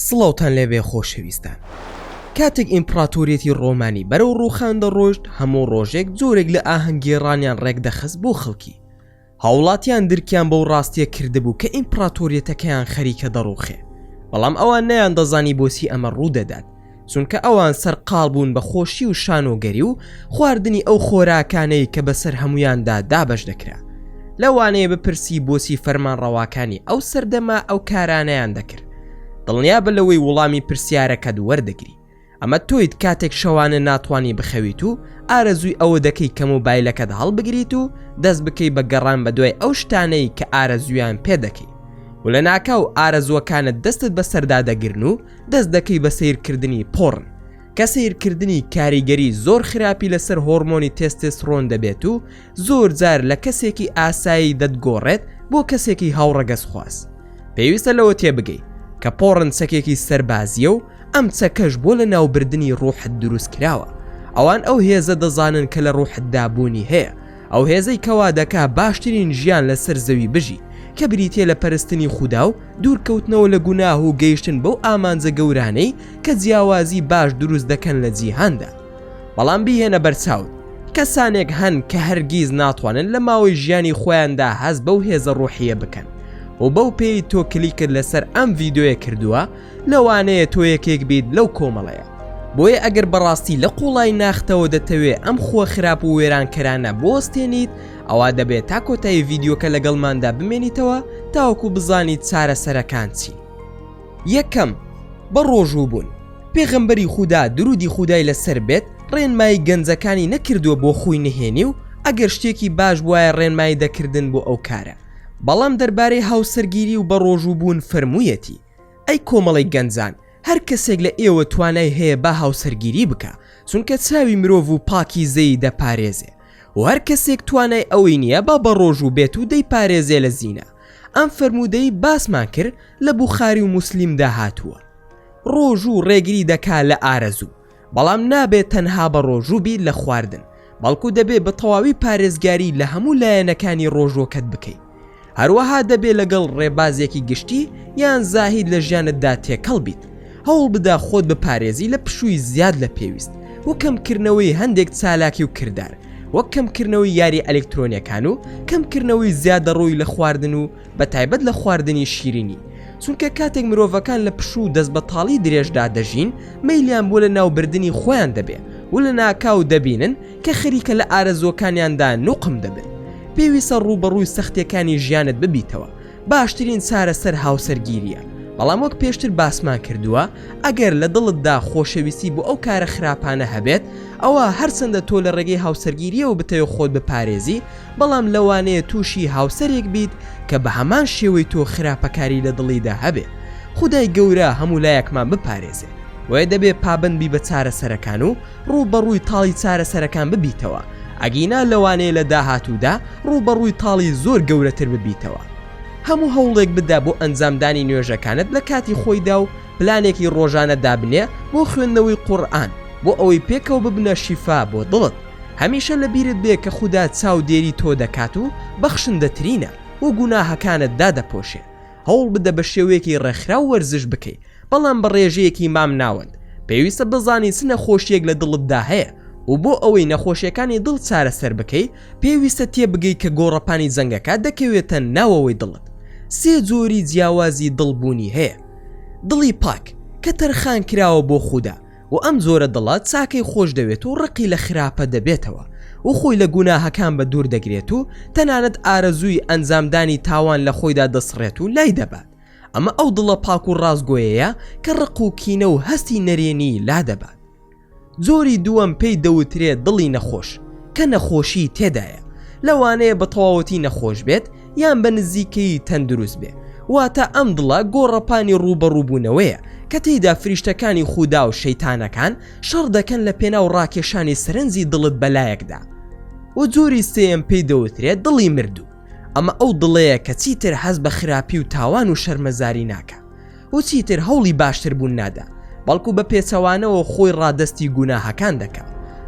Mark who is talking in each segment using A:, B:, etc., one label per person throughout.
A: سڵاوتان لێبێ خۆشەویستان کاتێک ئیمپڕاتۆریەتی ڕۆمانی بەرەو ڕووخان دەڕۆشت هەموو ڕۆژێک جۆرێک لە ئاهەنگێڕانیان ڕێکدەخست بۆ خەڵکی هاوڵاتیان درکیان بەو ڕاستیە کردبوو کە ئیمپڕاتۆریەتەکەیان خەریکە دەڕوخێ بەڵام ئەوان نەیاندەزانی بۆچی ئەمە ڕوودەدات چونکە ئەوان سەرقاڵ بوون بە خۆشی و شانۆگەری و خواردنی ئەو خۆراکانەی کە بەسەر هەموویاندا دابەش دەکرا لەوانەیە بپرسی بۆچی فەرمانڕەواکانی ئەو سەردەمە ئەو کارانەیان دەکرد دڵنیابە لەوەی وڵامی پرسیارەکەت وەردەگری. ئەمە تۆیت کاتێک شەوانە ناتوانانی بخەویت و ئارەزووی ئەوە دەکەی کە مۆبایلەکەت هەڵبگریت و دەست بکەی بە گەڕان بە دوای ئەو شتانەی کە ئارەزویان پێ دەکەی و لە ناکاو ئارەزوەکانت دەستت بە سەردا دەگرن و دەست دەکەی بە سیرکردنی پۆڕن کە سیرکردنی کاریگەری زۆر خراپی لەسەر هۆرمۆنی تێستێسرۆن دەبێت و زۆر جار لە کەسێکی ئاسایی دەتگۆڕێت بۆ کەسێکی هاوڕەگەزخواز پێویستە لەوە تێبگەی کە پۆڕن چەکێکی سەربازیە و ئەم چەکەش بۆ لە ناوبردنی ڕوحت دروست کراوە ئەوان ئەو هێزە دەزانن کە لە ڕوحتدابوونی هەیە ئەو هێزەی کەوا دەکا باشترین ژیان لەسەر زەوی بژی کە بریتە لە پەرستنی خودا و دوورکەوتنەوە لە گوناه و گەیشتن بەو ئامانجە گەورانەی کە جیاوازی باش دروست دەکەن لە جیهاندا بەڵام بیهێنە بەرچاوت کەسانێک هەن کە هەرگیز ناتوانن لە ماوەی ژیانی خۆیاندا هەز بەو هێزە ڕۆحیە بکەن و بەو پێی تۆ کلیکرد لەسەر ئەم ڤیددیوە کردووە لەوانەیە تۆ یەکێک بیت لەو کۆمەڵەیە بۆیە ئەگەر بەڕاستی لە قوڵای ناختەوە دەتەوێ ئەم خووە خراپ و وێرانکەرانە بۆستێنیت ئەوا دەبێت تا کۆتایی ڤیددیوکە لەگەڵماندا بمێنیتەوە تاوەکو بزانیت چارەسەرەکان چین یەکەم، بە ڕۆژوو بوون، پێغەمبەری خودا درودی خودای لە سەر بێت ڕێنمایی گەنجەکانی نەکردووە بۆ خوی نهێنی و ئەگەر شتێکی باش بوایە ڕێنمایی دەکردن بۆ ئەو کارە بەڵام دەربارەی هاوسەرگیری و بە ڕۆژوو بوون فەرموویەتی ئەی کۆمەڵی گەنجان هەر کەسێک لە ئێوە توانای هەیە با هاوسەرگیری بکە چونکە چاوی مرۆڤ و پاکی زەی دەپارێزێ و هەر کەسێک توانای ئەوەی نییە با بە ڕۆژوو بێت و دەی پارێزێ لە زینا ئەم فەرموودەی باسمان کرد لە بوخاری و موسلیمدا هاتووە ڕۆژوو ڕێگری دەکا لە ئارەزوو بەڵام نابێت تەنها بە ڕۆژوو بیر لە خواردن بەڵکو دەبێ بە تەواوی پارێزگاری لە هەموو لایەنەکانی ڕۆژوەکەت بکەیت هەروەها دەبێ لەگەڵ ڕێبازێکی گشتی یان زاهید لە ژیانتدا تێکەڵ بیت هەوڵ بدە خۆت بپارێزی لە پشووی زیاد لە پێویست و کەمکردنەوەی هەندێک چالاکی و کردار وەک کەمکردنەوەی یاری ئەلکترۆنیەکان و کەمکردنەوەی زیادە ڕووی لە خواردن و بە تایبەت لە خواردنی شیرینی چونکە کاتێک مرۆڤەکان لە پشوو و دەست بە تاڵی درێژدا دەژین مەیلیان بۆ لە ناوبردنی خۆیان دەبێ و لە ناکاو دەبینن کە خەریکە لە ئارەزووەکانیاندا نوقم دەبن پێویستە ڕووبەڕووی سەختیەکانی ژیانت ببیتەوە باشترین چارەسەر هاوسەرگیریە بەڵام وەک پێشتر باسمان کردووە ئەگەر لە دڵتدا خۆشەویستی بۆ ئەو کارە خراپانە هەبێت ئەوە هەرچەندە تۆ لە ڕێگەی هاوسەرگیریەوە بتەوێت خۆت بپارێزی بەڵام لەوانەیە تووشی هاوسەرێک بیت کە بە هەمان شێوەی تۆ خراپەکاری لە دڵیدا هەبێت خدای گەورە هەموو لایەکمان بپارێزێت وێ دەبێ پابندبی بە چارەسەرەکان و ڕووبەڕووی تاڵی چارەسەرەکان ببیتەوە، ئەگینا لەوانەیە لە داهاتوودا ڕووبەڕووی تاڵی زۆر گەورەتر ببیتەوە. هەموو هەوڵێک بدە بۆ ئەنجامدانی نوێژەکانت لە کاتی خۆیدا و پلانێکی ڕۆژانە دابنێ بۆ خوێندنەوەی قورئان بۆ ئەوەی پێکەوە ببنە شیفا بۆ دڵت. هەمیشە لە بیرت بێ کە خودا چاودێری تۆ دەکات و بەخشندەترینە و گوناهەکانت دادەپۆشێ. هەوڵ بدە بە شێوەیەکی ڕێکخراو وەرزش بکەی، بەڵام بە ڕێژەیەکی مام ناوەند پێویستە بزانی چ نەخۆشیەک لە دڵتدا هەیە و بۆ ئەوەی نەخۆشیەکانی دڵ چارەسەر بکەی پێویستە تێبگەی کە گۆڕەپانی جەنگەکە دەکەوێتە ناوەوەی دڵت سێ جۆری جیاوازی دڵ بوونی هەیە دڵی پاک کە تەرخان کراوە بۆ خودا و ئەم جۆرە دڵە چاکەی خۆش دەوێت و ڕقی لە خراپە دەبێتەوە و خۆی لە گوناهەکان بە دوور دەگرێت و تەنانەت ئارەزووی ئەنجامدانی تاوان لە خۆیدا دەسڕێت و لای دەبات ئەمە ئەو دڵە پاک و ڕاستگۆیەیە کە ڕق و کینە و هەستی نەرێنی لادەبات جۆری دووەم پێی دەوترێت دڵی نەخۆش کە نەخۆشی تێدایە لەوانەیە بە تەواوەتی نەخۆش بێت یان بە نزیکەی تەندروست بێ واتە ئەم دڵە گۆڕەپانی ڕووبەڕووبوونەوەیە کە تێیدا فریشتەکانی خودا و شەیتانەکان شەڕ دەکەن لە پێناو ڕاکێشانی سەرنجی دڵت بەلایەکدا و جۆری سێم پێی دەوترێت دڵی مردوو ئەمە ئەو دڵەیە کە چیتر حەز بە خراپی و تاوان و شەرمەزاری ناکە و چیتر هەوڵی باشتر بوون نادا بەڵکو بە پێچەوانەوە خۆی ڕادستی گوناهەکان دەکە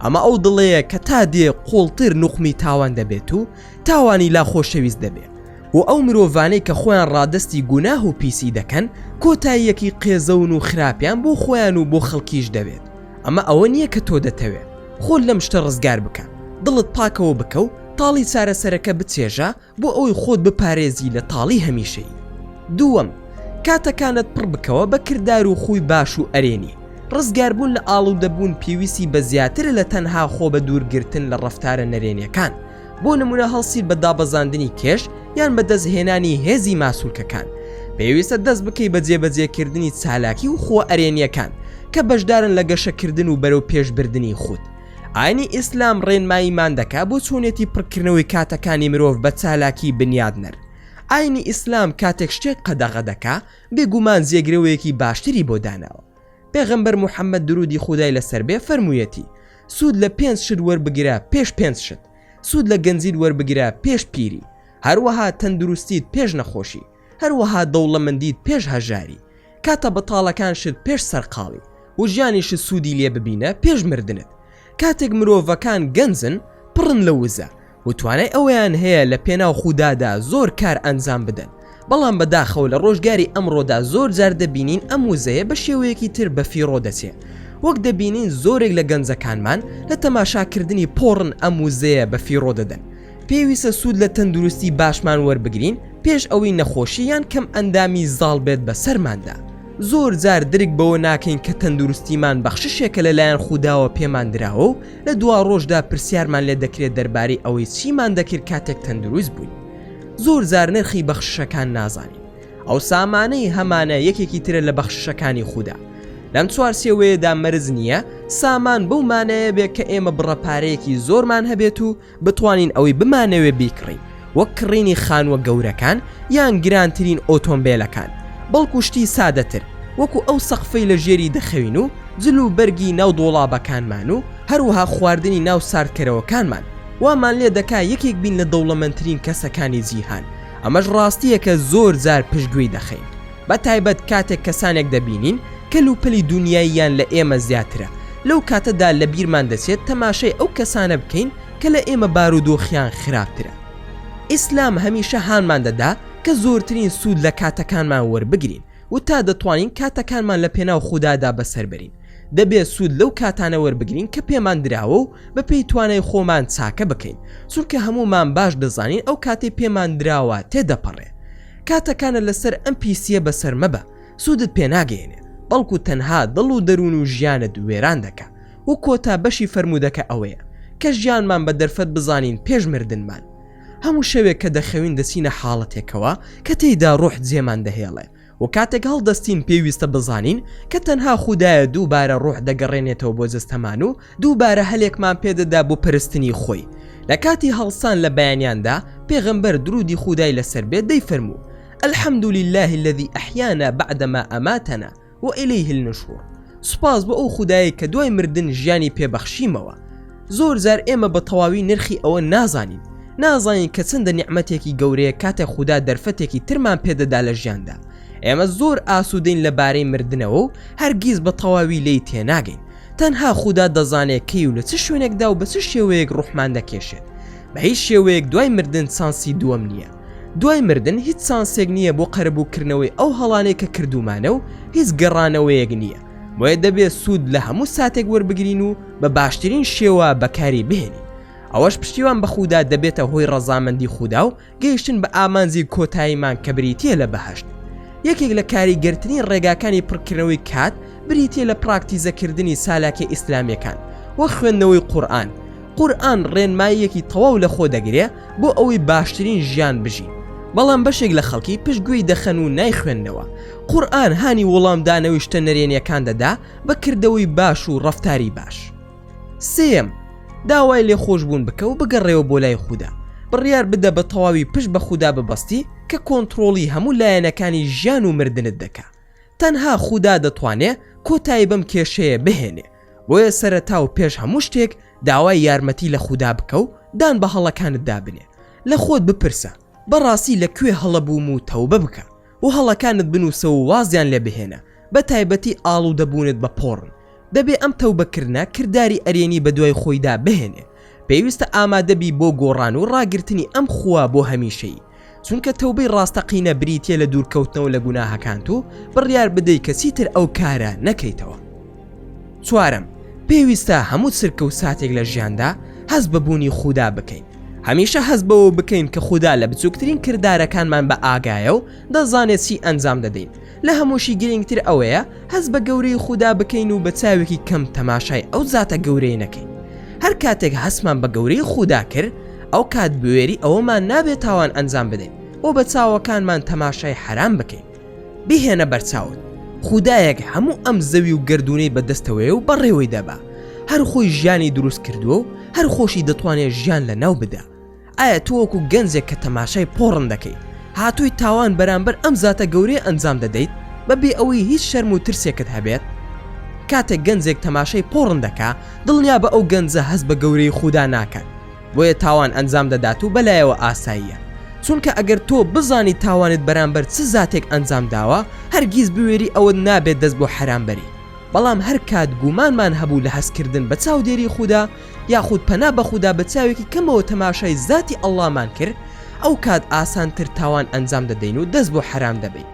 A: ئەمە ئەو دڵەیە کە تا دێ قوڵتر نوخمی تاوان دەبێت و تاوانی لا خۆشەویست دەبێت و ئەو مرۆڤانەی کە خۆیان ڕادستی گوناه و پیسی دەکەن کۆتاییەکی قێزەون و خراپیان بۆ خۆیان و بۆ خەڵکیش دەبێت ئەمە ئەوە نییە کە تۆ دەتەوێ خۆت لەم شتە ڕزگار بکە دڵت پاکەوە بکە و تاڵی چارەسەرەکە بچێژە بۆ ئەوەی خۆت بپارێزی لە تاڵی هەمیشەیی دووەم کاتەکانت پڕ بکەوە بە کردار و خووی باش و ئەرێنی ڕزگاربوون لە ئاڵودەبوون پێویستی بە زیاترە لە تەنها خۆ بە دوورگرتن لە ڕەفتارە نەرێنیەکان بۆ نمونە هەڵسیت بە دابەزاندنی کێش یان بەدەستهێنانی هێزی ماسولکەکان پێویستە دەست بکەی بە جێبەجێکردنی چالاکی و خۆ ئەرێنیەکان کە بەشدارن لە گەشەکردن و بەرەو پێشبردنی خود ئاینی ئیسلام ڕێنماییمان دەکا بۆ چۆنێتی پڕکردنەوەی کاتەکانی مرۆڤ بە چالاکی بنیادنەر ئاینی ئیسلام کاتێک شتێک قەدەغە دەکا بێگومان جێگرەوەیەکی باشتری بۆ داناوە پێغەمبەر موحەممەد دروودی خودای لەسەر بێ فەرموویەتی، سوود لە پێنج شت وەربگرە پێش پێنج شت، سوود لە گەنجیت وەربگرە پێش پیری، هەروەها تەندروستیت پێش نەخۆشی، هەروەها دەوڵەمەندیت پێش هەژاری، کاتە بەتاڵەکانشت پێش سەرقاڵی و ژیانیشت سوودی لێ ببینە پێش مردنت، کاتێک مرۆڤەکان گەنجن پڕن لە وزە، و توانای ئەوەیان هەیە لە پێناو خودادا زۆر کار ئەنجام بدەن بەڵام بەداخەوە لە ڕۆژگاری ئەمڕۆدا زۆر جار دەبینین ئەم وزەیە بە شێوەیەکی تر بە فیڕۆ دەچێ وەک دەبینین زۆرێک لە گەنجەکانمان لە تەماشاکردنی پۆڕن ئەم وزەیە بە فیڕۆ دەدەن پێویستە سوود لە تەندروستی باشمان وەربگرین پێش ئەوەی نەخۆشی یان کەم ئەندامی زاڵ بێت بە سەرماندا زۆر جار درک بەوە ناکەین کە تەندروستیمان بەخششێکە لەلایەن خودداوە پێمان دراوە و لە دواڕۆژدا پرسیارمان لێ دەکرێت دەربارەی ئەوەی چیمان دەکرد کاتێک تەندروست بووین. زۆر جار نرخی بەخششەکان نازانین. ئەو سامانەی هەمانە یەکێکی ترە لە بەخششەکانی خودا. لەم چوارچێوەیەدا مەرج نییە سامان بەو مانایە بێت کە ئێمە بڕە پارەیەکی زۆرمان هەبێت و بتوانین ئەوەی بمانەوێ بیکڕین وەک کڕینی خانووە گەورەکان یان گرانترین ئۆتۆمبێلەکان بەڵکو شتی سادەتر وەکو ئەو سەقفەی لە ژێری دەخەوین و جل و بەرگی ناو دۆڵابەکانمان و هەروەها خواردنی ناو ساردکەرەوەکانمان وامان لێ دەکا یەکێک بین لە دەوڵەمەندترین کەسەکانی جیهان ئەمەش ڕاستییەکە زۆر جار پشتگوێی دەخەین بە تایبەت کاتێک کەسانێک دەبینین کەل و پەلی دونیاییان لە ئێمە زیاترە، لەو کاتەدا لە بیرمان دەچێت تەماشای ئەو کەسانە بکەین کە لە ئێمە بارودۆخیان خراپترە. ئیسلام هەمیشە هانمان دەدا کە زۆرترین سوود لە کاتەکانمان وەربگرین و تا دەتوانین کاتەکانمان لە پێناو خودادا بەسەر بەرین، دەبێت سوود لەو کاتانە وەربگرین کە پێمان دراوە و بە پێی توانای خۆمان چاکە بکەین، چونکە هەموومان باش دەزانین ئەو کاتەی پێمان دراوە تێدەپەڕێ. کاتەکانت لەسەر ئەم پیسیە بەسەر مەبە سودت پێناگەیەنێ بەڵکو تەنها دڵ و دەرون و ژیانت وێران دەکا و کۆتا بەشی فەرمودەکە ئەوەیە کە ژیانمان بە دەرفەت بزانین پێش مردنمان هەمو شەوێک کە دەخەوین دەچینە حاڵەتێکەوە کە تێیدا روح جێمان دەهێڵێ و کاتێک هەڵدەستین پێویستە بزانین کە تەنها خودایە دووبارە روح دەگەڕێنێتەوە بۆ جەستەمان و دووبارە هەلێکمان پێ دەدا بۆ پەرستنی خۆی. لە کاتی هەڵسان لە بەیانیاندا، پێغەمبەر، دروودی خوودای لەسەر بێت، دەیفەرموو، الحمد للە الذی احیانا بعدما اماتنا والیه النشور، سوپاس بۆ ئەو خودایەی کە دوای مردن ژیانی پێ بەخشیمەوە. زۆر جار ئێمە بە تەواوی نرخی ئەوە نازانین. نازانین کە چەندە نیعمەتێکی گەورەیە کاتێک خودا دەرفەتێکی ترمان پێ دەدا لە ژیاندا. ئێمە زۆر ئاسوودەین لەبارەی مردنەوە و هەرگیز بە تەواوی لێی تێناگەین. تەنها خودا دەزانێت کەی و لە چ شوێنێکدا و بە چ شێوەیەک ڕوحمان دەکێشێت، بە هیچ شێوەیەک دوای مردن چانسی دووەم نییە، دوای مردن هیچ چانسێک نییە بۆ قەرەبووکردنەوەی ئەو هەڵانەی کە کردوومانە و هیچ گەڕانەوەیەک نییە، بۆیە دەبێت سوود لە هەموو ساتێک وەربگرین و بە باشترین شێوە بەکاری بهێنین، ئەوەش پشتیوان بە خودا دەبێتە هۆی ڕەزامەندی خودا و گەیشتن بە ئامانجی کۆتاییمان کە بریتییە لە بەهەشت. یەکێک لە کاریگەرترین ڕێگاکانی پڕکردنەوەی کات بریتییە لە پراکتیزەکردنی چالاکییە ئیسلامییەکان وەک خوێندنەوەی قورئان. قورئان ڕێنماییەکی تەواو لەخۆ دەگرێ بۆ ئەوەی باشترین ژیان بژین. بەڵام بەشێک لە خەڵکی پشت گوێی دەخەن و نایخوێننەوە. قورئان هانی وڵامدانەوەی شتە نەرێنییەکان دەدا بە کردەوەی باش و ڕەفتاری باش. سێیەم، داوای لێخۆشبوون بکە و بگەڕێوە بۆ لای خودا. بڕیار بدە بە تەواوی پشت بە خودا ببەستی کە کۆنتڕۆڵی هەموو لایەنەکانی ژیان و مردنت دەکا. تەنها خودا دەتوانێ کۆتایی بەم کێشەیە بهێنێ. بۆیە سەرەتا و پێش هەموو شتێک داوای یارمەتی لە خودا بکە و دان بە هەڵەکانتدا بنێ. لە خۆت بپرسە، بەڕاستی لە کوێ هەڵە بووم و تەوبە بکە. و هەڵەکانت بنوسە و وازیان لێ بهێنە بە تایبەتی ئاڵودە بوونت بە پۆڕن دەبێ ئەم تەوبە کردنە کرداری ئەرێنی بە دوای خۆیدا بهێنێ پێویستە ئامادە بی بۆ گۆڕان و ڕاگرتنی ئەم خووە بۆ هەمیشەیی چونکە تەوبەی ڕاستەقینە بریتیە لە دوورکەوتنەوە لە گوناهەکانت و بڕیار بدەی کە چیتر ئەو کارە نەکەیتەوە. چوارەم، پێویستە هەموو چرکە و ساتێک لە ژیاندا هەست بە بوونی خودا بکەین. هەمیشە هەست بەوە بکەین کە خودا لە بچووکترین کردارەکانمان بە ئاگایە و دەزانێت چی ئەنجام دەدەین. لە هەمووشی گرنگتر ئەوەیە هەست بە گەورەیی خودا بکەین و بە چاوێکی کەم تەماشای ئەو زاتە گەورەیە نەکەین. هەر کاتێک هەستمان بە گەورەیی خودا کرد، ئەو کات بوێری ئەوەمان نابێت تاوان ئەنجام بدەین و بە چاوەکانمان تەماشای حەرام بکەین. بیهێنە بەرچاوت خودایەک هەموو ئەم زەوی و گردونەی بەدەستەوەیە و بەڕێوەی دەبا هەر خۆی ژیانی دروست کردووە و هەر خۆشی دەتوانێت ژیان لە ناو بدا ئایا تۆوەکو گەنجێک کە تەماشای پۆڕن دەکەیت هاتووی تاوان بەرامبەر ئەم زاتە گەورەی ئەنجام دەدەیت بەبێ ئەوەی هیچ شەرم و ترسێکت هەبێت کاتێک گەنجێک تەماشای پۆڕن دەکا دڵنیا بە ئەو گەنجە هەست بە گەورەی خودا ناکات بۆیە تاوان ئەنجام دەدات و بەلایەوە ئاساییە چونکە ئەگەر تۆ بزانی تاوانت بەرامبەر چ زاتێک ئەنجام داوە هەرگیز بوێری ئەوەت نابێت دەست بۆ حەرام بەری بەڵام هەر کات گومانمان هەبوو لە هەستکردن بە چاودێری خودا یاخود پەنا بە خودا بە چاوێکی کەمەوە تەماشای زاتی ئەڵڵامان کرد ئەو کات ئاسانتر تاوان ئەنجام دەدەین و دەست بۆ حەرام دەبەین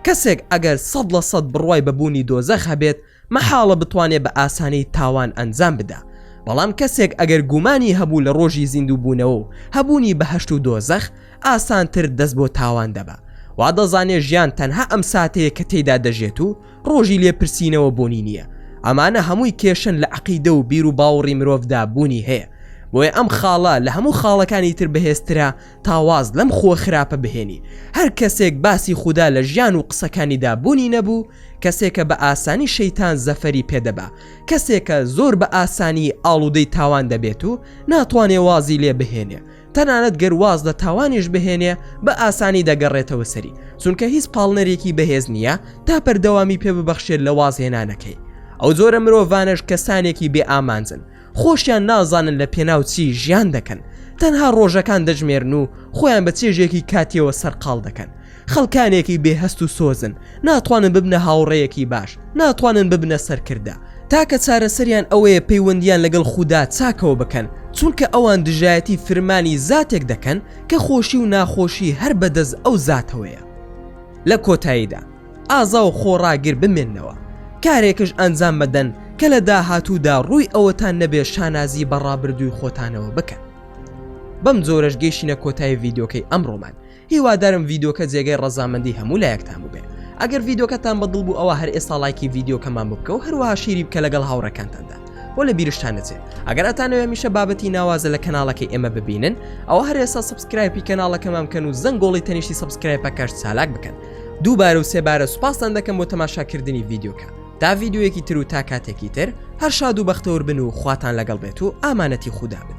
A: کەسێک ئەگەر سەد لە سەد بڕوای بە بوونی دۆزەخ هەبێت مەحاڵە بتوانێ بە ئاسانی تاوان ئەنجام بدا، بەڵام کەسێک ئەگەر گومانی هەبوو لە ڕۆژی زیندووبوونەوە و هەبوونی بەهەشت و دۆزەخ، ئاسانتر دەست بۆ تاوان دەبا. وا دەزانێ ژیان تەنها ئەم ساتەیە کە تێیدا دەژێت و ڕۆژی لێپرسینەوە بوونی نییە. ئەمانە هەمووی کێشەن لە عەقیدە و بیروباوڕی مرۆڤدا بوونی هەیە، بۆیە ئەم خاڵە لە هەموو خاڵەکانی تر بەهێزترە، تا واز لەم خووە خراپە بهێنی هەر کەسێک باسی خودا لە ژیان و قسەکانیدا بوونی نەبوو کەسێکە بە ئاسانی شەیتان زەفەری پێدەبا کەسێکە زۆر بە ئاسانی ئاڵودەی تاوان دەبێت و ناتوانێ وازی لێ بهێنێ تەنانەت گەر واز لە تاوانیش بهێنێ بە ئاسانی دەگەڕێتەوە سەری چونکە هیچ پاڵنەرێکی بەهێز نییە تا پەردەوامی پێ ببەخشێت لە وازهێنانەکەی ئەو زۆرە مرۆڤانەش کەسانێکی بێ ئامانجن خۆشیان نازانن لە پێناو چی ژیان دەکەن تەنها ڕۆژەکان دەژمێرن و خۆیان بە چێژێکی کاتیەوە سەرقاڵ دەکەن خەڵکانێکی بێهەست و سۆزن ناتوانن ببنە هاوڕەیەکی باش ناتوانن ببنە سەرکردە تاکە چارەسەریان ئەوەیە پەیوەندیان لەگەڵ خودا چاکەوە بکەن چونکە ئەوان دژایەتی فرمانی زاتێک دەکەن کە خۆشی و ناخۆشی هەر بەدەست ئەو زاتەوەیە لە کۆتاییدا ئازا و خۆڕاگر بمێننەوە، کارێکش ئەنجام بدەن کە لە داهاتوودا ڕووی ئەوەتان نەبێت شانازی بە ڕابردووی خۆتانەوە بکەن. بەم جۆرەش گەیشتینە کۆتایی ڤیدیۆکەی ئەمڕۆمان، هیوادارم ڤیدیۆکە جێگای ڕەزامەندی هەموو لایەکتان بووبێ. ئەگەر ڤیدیۆکەتان بە دڵ بوو ئەوا هەر ئێستا ڵایکی ڤیدیۆکەمان بکە و هەروەها شیری بکە لەگەڵ هاوڕێکانتاندا بۆ لە بیرشتان نەچێ. ئەگەر ئەتانەوێ هەمیشە بابەتی ناوازە لە کەناڵەکەی ئێمە ببینن ئەوا هەر ئێستا سەبسکرایپی کەناڵەکەمان بکەن و زەنگۆڵی تەنیشتی سەبسکرایپەکەش چالاک بکەن. دووبارە و سێ بارە سوپاستان دەکەم بۆ تەماشا کردنی ڤیدیۆکە تا ڤیدیۆیەکی تر و تا کاتێکی تر هەر شاد و بەختەور بن و خواتان لەگەڵ بێت و ئامانەتی خودا بن.